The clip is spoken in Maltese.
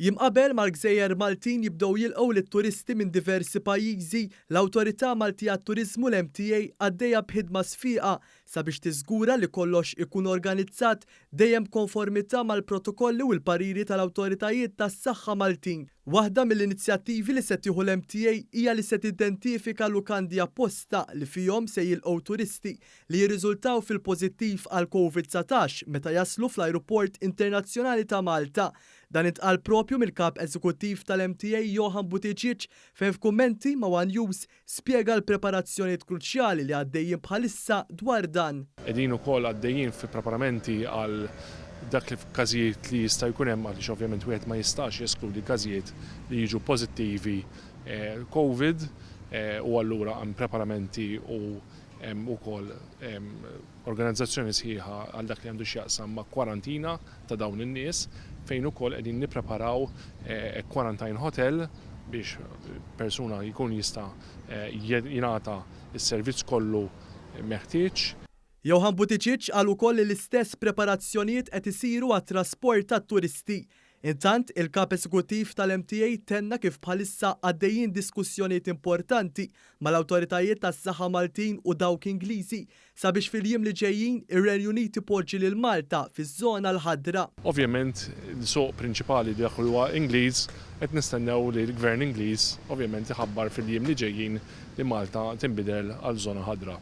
Jiem qabel ma l-gżejjer Maltin jibdew jilqgħu lit-turisti minn diversi pajjiżi, l-Awtorità Malti għat-Turiżmu, l-MTA, għaddejja b'ħidma sfiqa sabiex tiżgura li kollox ikun organizzat dejjem b'konformità mal-protokolli u l-pariri tal-awtoritajiet tas-saħħa Maltin. Waħda mill-inizjattivi li se tieħu l-MTA hija li se tidentifika lukandi apposta li fihom se jilqgħu turisti li jirriżultaw fil-pożittiv għall-Covid 19 meta jaslu fl-Ajruport Internazzjonali ta' Malta. Dan intqal proprju mill-Kap Eżekuttiv tal-MTA Johann Buttigieg fejn f'kummenti ma' one News spjega l-preparazzjonijiet kruċjali li għaddejjin bħalissa dwar dan. Qegħdin ukoll għaddejjin fi preparamenti għal dak li f'każijiet li jista' jkun hemm għaliex ovvjament wieħed ma jistax jeskludi każijiet li jiġu pożittivi Covid u allura hemm preparamenti u Hemm ukoll organizzazzjoni sħiħa għal dak li għandu x'jaqsam ma' kwarantina ta' dawn in-nies fejn ukoll qegħdin nippreparaw quarantine hotel biex persuna jkun jista' jingħata s-servizz kollu meħtieġ. Johann Buttigieg qal ukoll li l-istess preparazzjonijiet qed isiru għat-trasport tat-turisti Intant, il-Kap Eżekuttiv tal-MTA tenna kif bħalissa għaddejjin diskussjonijiet importanti mal-awtoritajiet tas-saħħa Maltin u dawk Ingliżi sabiex fil-jiem li ġejjin ir-Renju Unit ipoġġi lil Malta fiż-żona l-ħadra. Ovvjament, il-suq prinċipali dak li huwa Ingliż, qed nistennew li l-Gvern Ingliż ovvjament iħabbar fil-jiem li ġejjin li Malta tinbidel għal żona ħadra.